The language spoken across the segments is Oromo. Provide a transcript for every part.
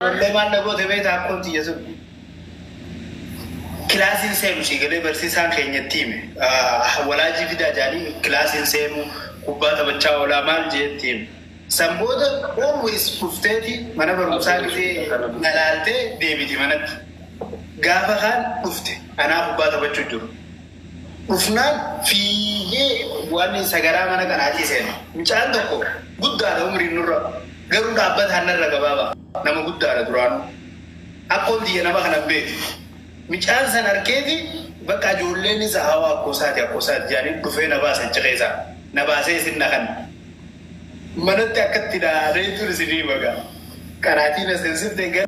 Ollee maal na goote beektaa akkoon tiyya sun. Kilaasiin seenu sii galee barsiisaan keenya itti hime. Ah, Walaajii fidaa jaanii kilaasiin seenu kubbaa taphachaa oolaa maal jee itti hime. San booda always dhufteeti mana barumsaa gisee na laaltee deebiti manatti. Gaafa kaan dhufte anaa kubbaa taphachuu jiru. dhufnaan fiigee waaniin sagaraa mana kanaatii seene. Mucaan tokko guddaadha umriin nurra, garuu dhaabbataan narra gabaaba. Nama guddaadha duraanuu. Akkoon tiyya nama kana hin beetu. Mucaan san arkeeti bakka ijoolleen isa hawaa akkoo isaati akkoo isaati jedhaniin dhufee na baase achi keessaa. Na baasee isin na kanne. Manatti akkatti na reetuun isinii hima gaa. Qaraatii na seensifte gara.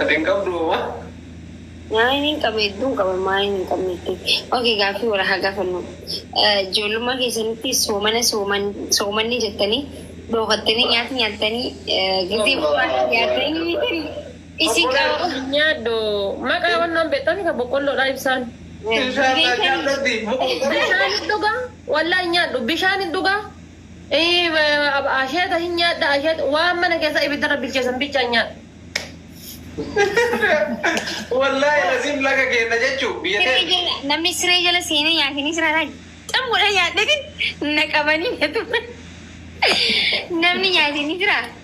Ati hin qabdu homaa? Maayin hin qaba hedduun qaba maayin hin qabne jettee. Okay gaaffii wal haa gaafannu. Ijoollummaa keessanitti soomana sooman soomanni jettanii dhookattanii nyaata nyaattanii gizee bu'aa nyaattanii tarii isin qaba. Nyaadhu. Maqaa wannoon beektanii kan boqqolloodhaa ibsaan. Inshallah jaalladhi. Bishaan hin dhugaa? Wallahi nyaadhu. Bishaan hin dhugaa? Asheeta hin nyaadha asheeta waan mana keessa ibiddarra bilcheessan bichaan nyaadha. Wallaahi laziim laga keenya jechuu biyya Siree keenya. jala namni siree jala seenee nyaatanii siree irraa xammuudhaan nyaadheetiin na qabanii na tuman. Namni nyaate ni jiraa?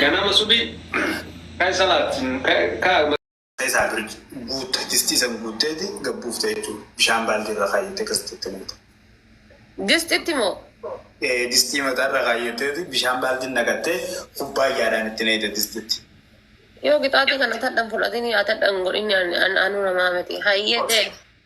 Ganama subii ka'e salaat ka'e. isaa bir guutta distii san guutteeti gad buufta jechuu bishaan baaldii irra kaayyette kastitti naqxa Distitti moo? Ee, distii mataa irra kaayyatteeti bishaan baaldii naqattee kubbaayyaadhaan itti naqxa distitti Yoo qixaaxii kana tadhan fudhatini atadhan godhini an- an- anu namaa miti. Hayyee ta'e.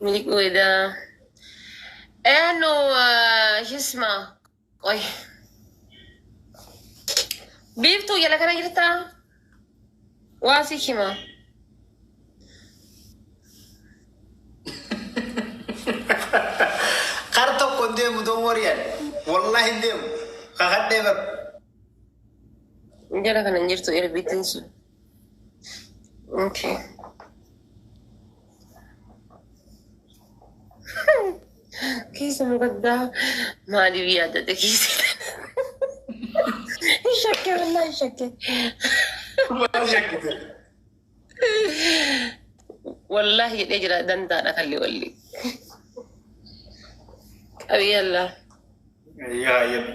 Miiquu edaa. Eenu hisma. Qoy. Biiftuu jala kana jirtaa? Waa si hima. Kar tokko hin deemu don wariyaan. Wallahi hin deemu. Kakadhee bar. Jala kana hin jirtu erbiitiin sun. Okay. Keessa nu gaddaa maaliif yaadate keessa? Hin shakke wallaa hin shakke. Maal shakkite? Wallaa jedhee jira dandaadha kalli walli. Qabiyyallaa. Yaa yemma.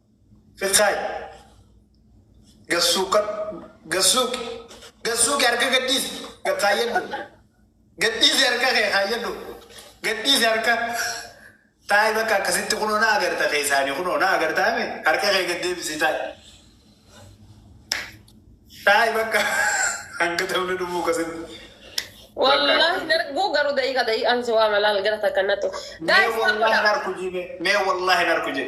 Fiqaay. Gassuuqa. Gassuuqi. Gassuuqi harka gadhiisi. Kaayyadhu. Gadhiisi harka kee kaayyadhu. Gadhiisi harka. Taa'i bakka akkasitti kunoo na agarta keessaanii kunoo na agartaa mi harka kee gad deebisi taa'i. Taa'i bakka hanga ta'uun dhumuu akkasitti. Wallahi hin arguu garuu da'iiqa da'iiqaan si waama laal gara takka nattu. Mee Gaa'is wallahi hin arku jee mee wallahi hin arku jee.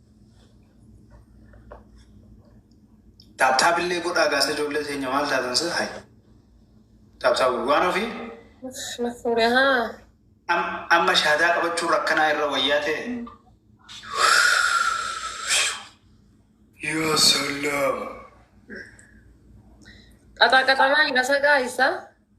Taaptaap illee godhaa gaasa ijoollee teenya maal taatan sir hay. Taaptaap waan ofii Na fuudhe haa. am- amma shahaadaa qabachuun rakkanaa irra wayyaa ta'e. Yoo sallam. Qaxaa qaxamaa hin dhasa gaayisa.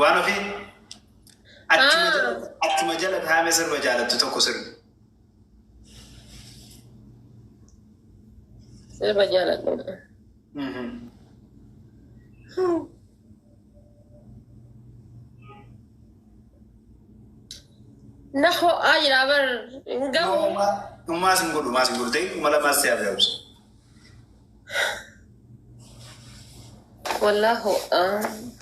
Waan ofii achuma Ah. jala achuma jala taa'ame sirba jaalattu tokko sirbi. Sirba jaaladhu. Mhm. Na ho'aa jira bar hin gahu. Ummaas hin godhu maas hin godhu ta'e kuma lamaas si'a biraa ibsu. Wallahu um.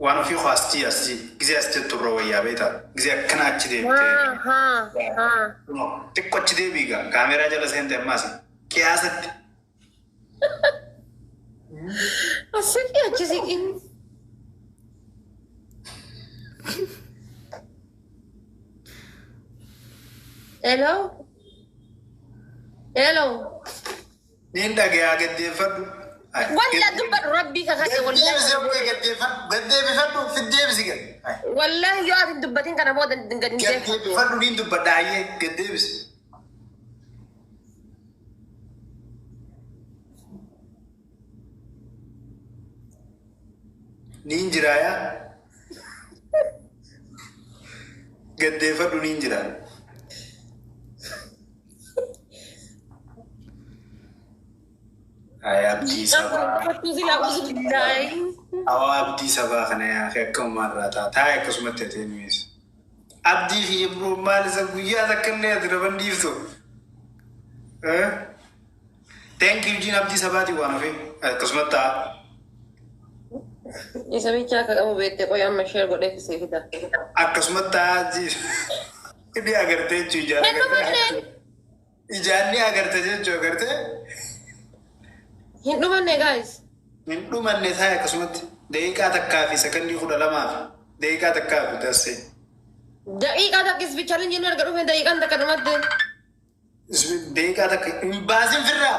Waan ofii koo asii asii gizee as jettu irra wayyaa beektaa gizee akkana achi deemtee Ha ha ha. xiqqo achi deebiiga kaameeraa jala seente ammaas qiyaasatti Asirri achi siqin. Hello. Hello. Niin dhagayaa gaddeeffadhu. Walla dubbadhu rabbii kakadhe wallaahi. Gaddeebisi abbaa gaddeeffadhu. Gaddeebifadhu fiddeebisi gad. Wallaahi yoo ati dubbatin kana booda gad hin deebisu. Gaddeebifadhu niin dubbadha hayyee gaddeebisi. Niin jiraa yaa. Gaddeeffadhu niin jiraa. Ay abdii sabaa. Kottuu silaa usu daa'im. Awaa abdii sabaa kana yaa fi akka uumaa irraa ta'a. Taa'e akkasumatti atee nuyeessa. Abdii fi Ibroon maal isa guyyaa takka illee ati naman dhiiftu. Eh? Thank you jiin abdii sabaatii waan hafee akkasumas ta'a. Isa bichaa akka qabu beektee qoy amma sheer godhee fi siif hidha. Akkasumas ta'a jiin. Inni agartee jechuu ijaara. Kennu badde. Ijaan ni agarte jechuu agarte. Hin dhumanne guys. Hin dhumanne taa'e akkasumatti daqiiqaa takkaa fi sekondii kudha lamaa fi daqiiqaa takkaa fi dassee. Daqiiqaa takka ispichaliin jennu erga dhufne daqiiqaan takka dhumatte. Daqiiqaa takka hin baasin firraa.